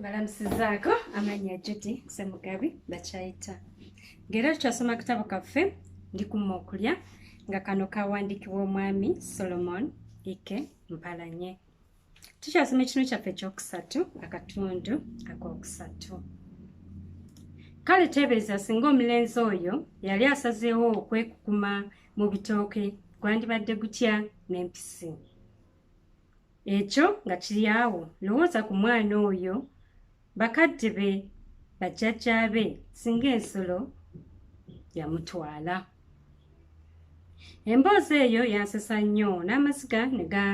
balamusizaako amannya judy semugabi bakyayita ng'era tukyasoma kitabo kaffe ndikuma okulya nga kano kawandiikibwa omwami solomon ike mpalanye tukyasoma ekinu kyaffe ekyokusatu akatundu akokusatu kale teebereza singa omulenzi oyo yali asazeewo okwekukuma mu bitooke gwandibadde gutya n'empisi ekyo nga kiri awo lowooza ku mwana oyo bakadde be bajjajja be singa ensolo yamutwala emboozi eyo yansesa nnyo n'amaziga ne ga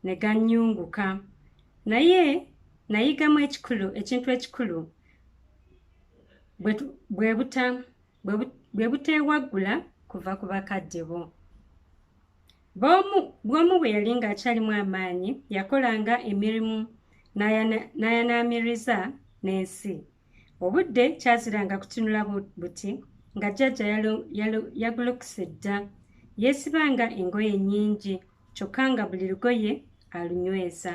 ne gannyunguka naye nayigamu ekikulu ekintu ekikulu bwe buteewaggula kuva ku bakadde bo bw'omu bwe yali ng'akyalimu amaanyi yakolanga emirimu n'ayanaamiriza n'ensi obudde kyaziranga kutunula buti nga jjajja yagulukuse dda yeesibanga engoye nnyingi kyokka nga buli lugoye alunyweza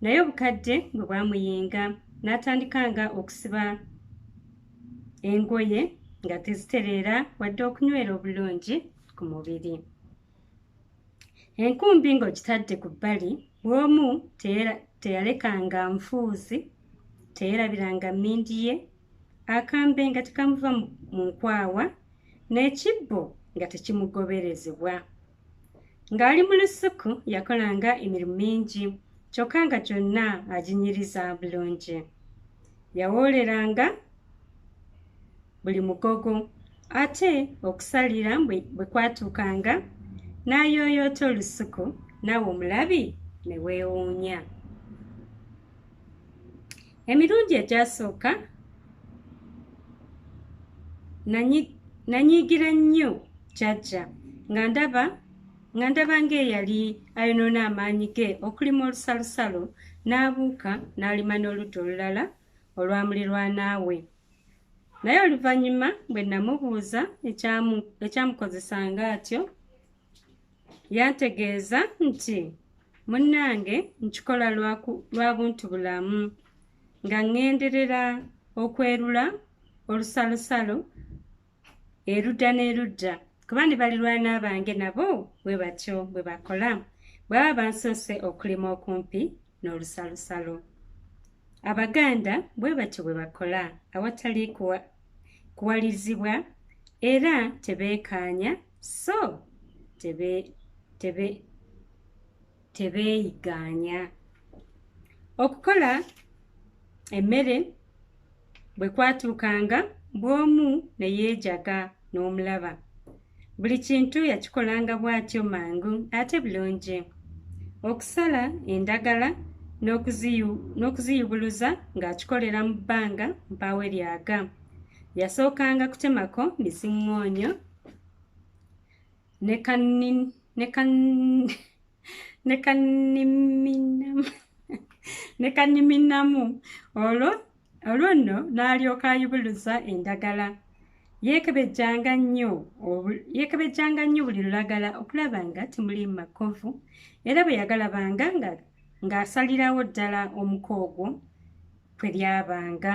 naye obukadde bwe bwamuyinga n'atandika nga okusiba engoye nga tezitereera wadde okunywera obulungi ku mubiri enkumbi ng'ogitadde ku bbali bw'omu teyalekanga nfuuzi teyerabiranga mmindi ye akambe nga tekamuva mu nkwawa n'ekibbo nga tekimugoberezebwa Ng'ali mu lusuku yakolanga emirimu mingi kyokka nga gyonna aginyiriza bulungi. Yawooleranga buli mugogo ate okusalira bwe kwatuukanga n'ayooyoota olusuku naawe omulabi ne weewuunya. emirundi egyasooka nanyiigira nnyo jajja nga ndaba nga ndaba ng'eyali ayonoona amaanyi ge okulima olusalosalo n'abuuka n'alima n'oludda olulala olwamulirwanaawe naye oluvannyuma bwe namubuuza ekyamukozesanga atyo yantegeeza nti munnange nkikola lwa buntu bulamu nga ŋŋenderera okwerula olusalosalo erudda n'erudda kuba ne balirwana bange nabo bwe batyo bwe bakola bwaba bansoose okulima okumpi n'olusalosalo abaganda bwe batyo bwe bakola awatali kuwalirizibwa era tebeekaanya so tebe tebe tebeeyigaanya okukola emmere bwe kwatuukanga bw'omu ne yeejaga n'omulaba buli kintu yakikolanga bw'atyo mangu ate bulungi okusala endagala n'okuziyubuluza ng'akikolera mu bbanga mpaawe lyaga yasookanga kutemako miziŋŋoonyo nekaniminamu olwo olwo nno n'alyoka ayubuluza endagala yeekebejjanga nnyo yeekebejjanga nnyo buli lulagala okulaba nga temuli makovu era bwe yagalabanga nga ng'asalirawo ddala omuko ogwo kwe lyabanga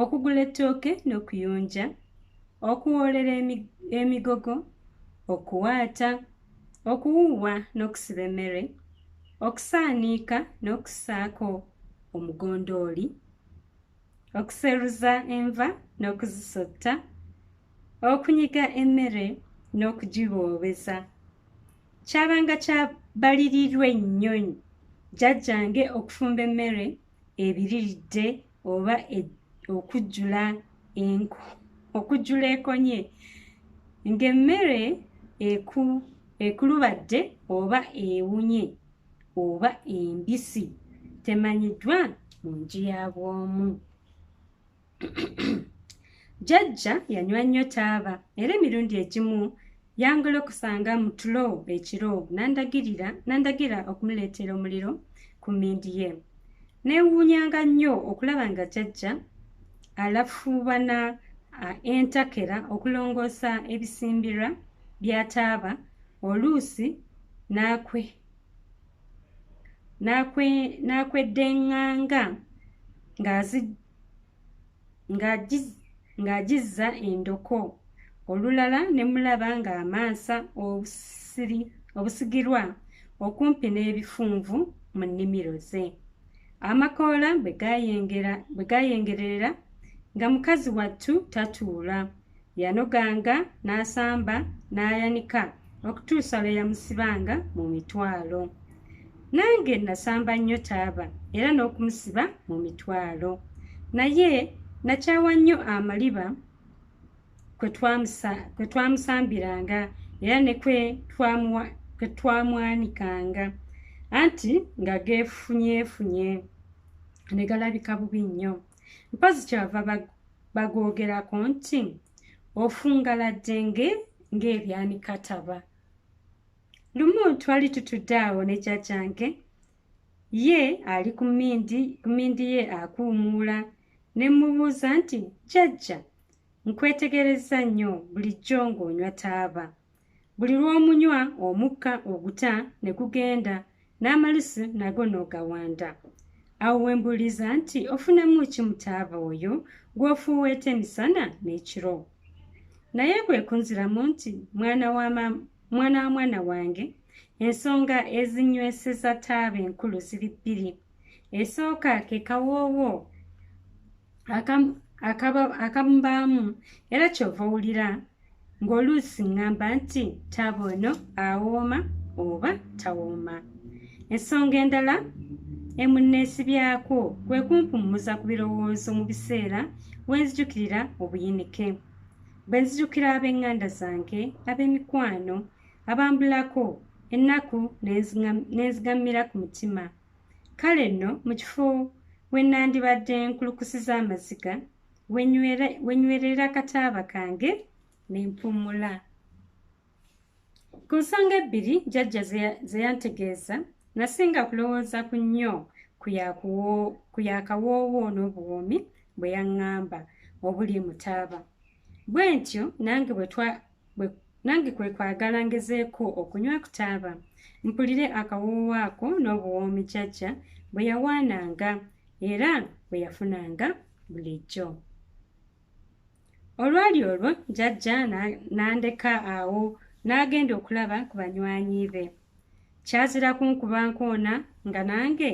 okugula ettooke n'okuyonja okuwoolera emigogo okuwaata okuwuuwa n'okusiba emmere okusaaniika n'okusaako omugondooli okuseruza enva n'okuzisotta okunyiga emmere n'okugiboobeza kyabanga kyabalirirwe nnyo jjajjange okufumba emmere ebiriridde oba e, okujjula enku okujjula ekonye ng'emmere eku ekulubadde oba ewunye oba embisi temanyiddwa mu nju ya bw'omu jajja yanywa nnyo taaba era emirundi egimu yangola okusanga mu tulo ekiro nandagirira nandagira okumuleetera omuliro ku mindi ye neewuunyanga nnyo okulaba nga jajja alafuubana entakera okulongoosa ebisimbirwa bya taaba oluusi n'akwe n'akweddeŋŋanga ng'agizza endoko olulala ne mulaba ng'amansa obusigirwa okumpi n'ebifunvu mu nnimiro ze amakoola bwe gayengerera nga mukazi wattu tatuula yanoganga n'asamba n'ayanika okutuusa lwe yamusibanga mu mitwalo nange nasamba nnyo taaba era n'okumusiba mu mitwalo naye nakyawa nnyo amaliba kwe twamusambiranga era ne kwe twamwanikanga anti nga geefunyeefunye ne galabika bubi nnyo mpozi kyava bagwogerako nti ofungaladde nge ng'ebyanikataba lumu twali tutudde awo ne jajjange ye ali ku mindi ku mindi ye akuumuula ne mmubuuza nti jajja nkwetegereza nnyo bulijjo ng'onywa taaba buli lw'omunywa omukka oguta ne gugenda n'amalusu nago n'ogawanda awo we mbuuliza nti ofunamu ki mutaaba oyo gw'ofuuweeta emisana n'ekiro naye kwe kunziramu nti mwana wa mwana wa mwana wange ensonga ezinyweseza taaba enkulu ziri bbiri esooka ke kawoowo akamubaamu era kyova owulira ng'oluusi ŋŋamba nti taaba ono awooma oba tawooma ensonga endala emunneesibyako kwe kumpummuza ku birowoozo mu biseera we nzijukirira obuyinike bwe nzijukira ab'eŋŋanda zange ab'emikwano abambulako ennaku n'enzigammira ku mutima kale nno mu kifo we nnandibadde nkulukusiza amaziga wenywerera kataaba kange ne mpummula ku nsonga ebbiri jajja ze yantegeeza nasinga kulowooza ku nnyo ku yakawoowo n'obuwoomi bwe yaŋŋamba obuli mutaaba bwe ntyo nange bwe nange kwe kwagala ngezeeko okunywa ku taaba mpulire akawoowo ako n'obuwoomi jajja bwe yawaananga era bwe yafunanga bulijjo olwali olwo jajja n'andeka awo n'agenda okulaba ku banywanyi be kyazira kunkuba nkoona nga nange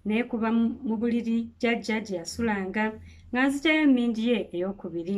neekuba mu buliri jajja gye yasulanga nga nzitayo emindi ye ey'okubiri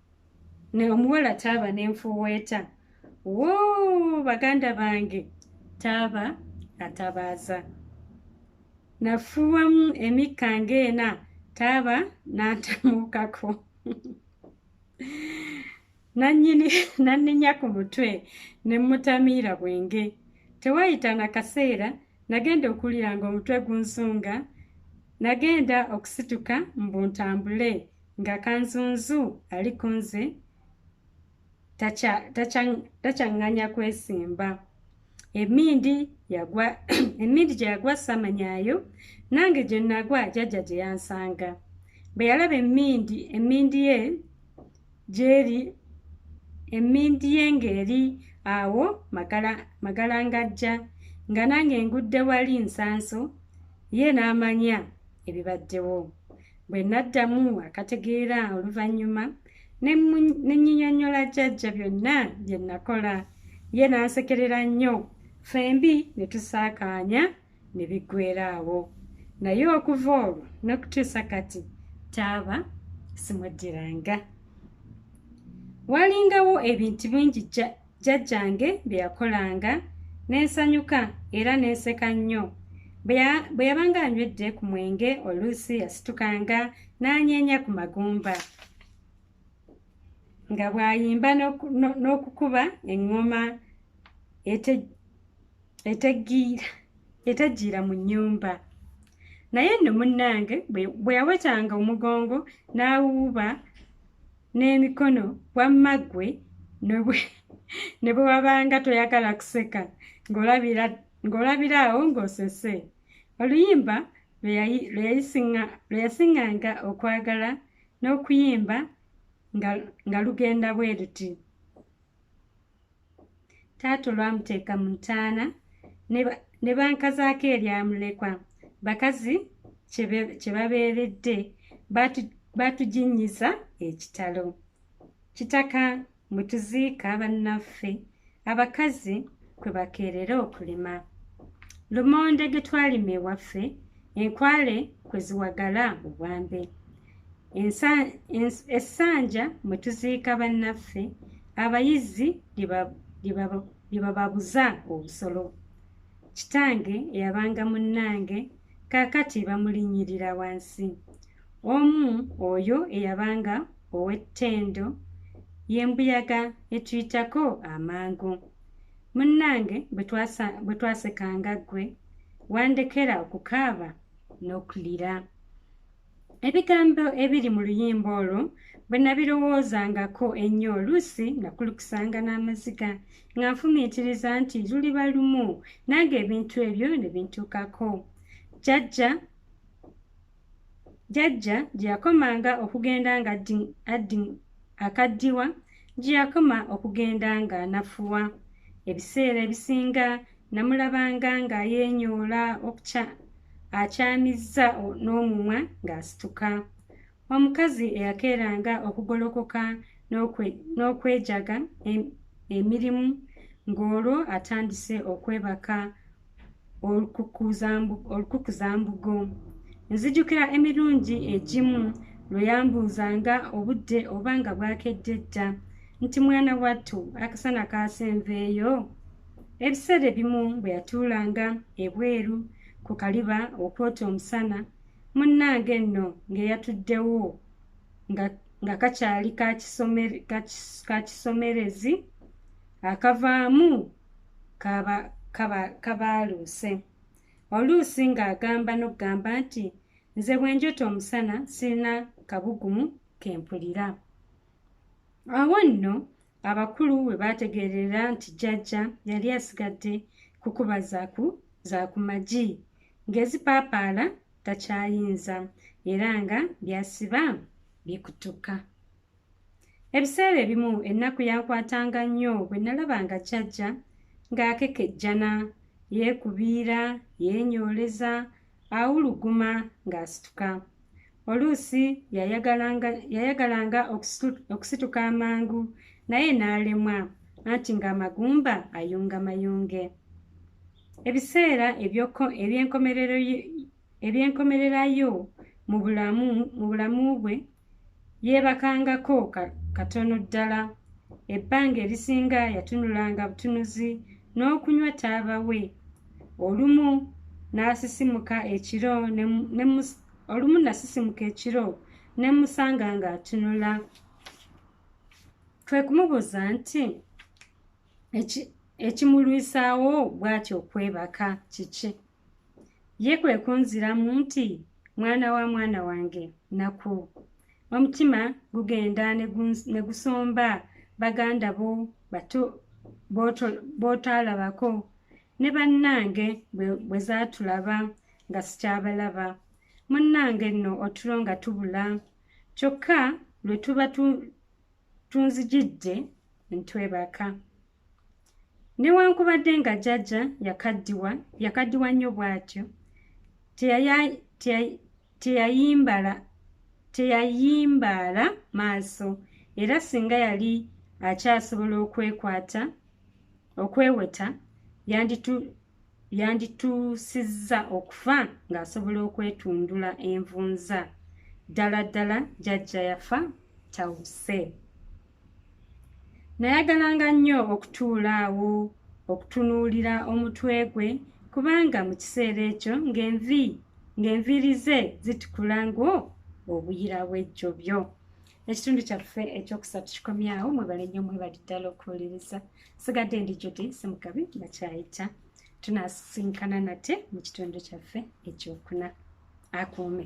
ne omuwala taaba nenfuweeta woo baganda bange taaba atabaaza nafuwamu emikka ngaena taaba nantamuukako nanyini nanenya ku mutwe ne mutamiira bwenge tewayita na kaseera nagenda okuwulira nga omutwe gunsunga nagenda okusituka mbuntambule nga kanzunzu ali ku nze takyaŋŋanya kwesimba emindi yagwa emindi gye yagwa samanyaayo nange gye nagwa jajja gye yansanga bwe yalaba emindi emindi ye gyeri emindi ye ng'eri awo magala ngajja nga nange ngudde wali nsanso ye n'amanya ebibaddewo bwe naddamu akategeera oluvannyuma ne nyinyonyola jajja byonna bye nakola ye n'ansekerera nnyo ffembi ne tusaakaanya ne biggwera awo naye okuva olwo n'okutuusa kati taaba simuddiranga walingawo ebintu bingi jjajjange bye yakolanga ne nsanyuka era ne nseka nnyo bwe yabanga anywedde ku mwenge oluusi yasitukanga n'anyeenya ku magumba nga bw'ayimba n'okukuba eŋŋoma eteggiira mu nnyumba naye nno munnange bwe yawetanga omugongo n'awuuba n'emikono wamma ggwe ne bwe wabanga toyagala kuseka ng'olabira awo ng'osese oluyimba lwe yasiŋŋanga okwagala n'okuyimba nga lugenda bwe luti taata olwamuteeka mu ntaana ne bankazaako eryamulekwa bakazi kye babeeredde baatuginnyiza ekitalo kitaka mwe tuziika bannaffe abakazi kwe bakeerera okulima lumonde ge twalima ewaffe enkwale kwe ziwagala obwambe essanja mwe tuziika bannaffe abayizzi lye bababuza obusolo kitange eyabanga munnange kaakati bamulinnyirira wansi omu oyo eyabanga ow'ettendo y'embuyaga etuyitako amangu munnange bwe twasekanga ggwe wandekera okukaaba n'okulira Ebigambo ebiri mu luyimba olwo bwe nabirowoozangako ennyo oluusi nga kulukusanga n'amaziga nga nfumiitiriza nti luliba lumu nange ebintu ebyo ne bintuukako jajja jajja gye yakomanga okugenda nga addi akaddiwa gye yakoma okugenda ng'anafuwa ebiseera ebisinga namulabanga ng'ayeenyoola okukya akyamizza n'omumwa ng'asituka omukazi eyakeeranga okugolokoka n'okwejaga emirimu ng'olwo atandise okwebaka olukukuzambugo nzijukira emirundi egimu lwe yambuuzanga obudde oba nga bwakedde dda nti mwana wattu akasana kaasenveeyo Ebiseera ebimu bwe yatuulanga ebweru ku kaliba okwota omusana, munnange nno ng'eyatuddewo nga nga kakyali kakisomerezi akavaamu kabaaluuse oluusi ng'agamba n'okugamba nti nze bwe njota omusana sirina kabugumu ke mpulira awo nno abakulu we baategeerera nti jjajja yali asigadde kukuba zaku za ku magi ng'ezipaapaala takyayinza era nga byasiba bikutuka ebiseera ebimu ennaku yankwatanga nnyo bwe nalaba nga jjajja ng'akekejjana yeekubiira yeenyooleza awuluguma ng'asituka oluusi yayagalanga yayagalanga okusituka amangu naye n'alemwa anti ng'amagumba ayunga mayunge ebiseera eby'enkomererayo mu bulamu mu bulamu bwe yeebakangako katono ddala ebbanga erisinga yatunulanga butunuzi n'okunywa taaba we olumu n'asisimuka ekiro olumu nasisimuka ekiro ne musanga ng'atunula twe kumubuuza nti ekimulwisaawo bw'atyo okwebaka kiki ye kwe kunziramu nti mwana wa mwana wange naku omutima gugenda ne gusomba baganda bo b'otaalabako ne bannange bwe zaatulaba nga sikyabalaba munnange nno otulo nga tubula kyokka lwe tuba tunzijidde ntwebaka newankubadde nga jajja yakaddiwa yakaddiwa nnyo bw'atyo teyayimbala teyayimbaala maaso era singa yali akyasobola okwekwata okweweta yandituusizza okufa ng'asobola okwetundula envunza ddala ddala jajja yafa tawuse nayagalanga nnyo okutuula awo okutunuulira omutwe gwe kubanga mu kiseera ekyo ng'envi ng'enviiri ze zitukula ng'o obuyira bw'ejjobyo ekitundu kyaffe ekyokusatu kikomyawo mwebale nnyo mwebali ddala okuwuliriza sigadde ndi judi simukabi nakyayita tunasinkana nate mu kitundu kyaffe ekyokuna akuume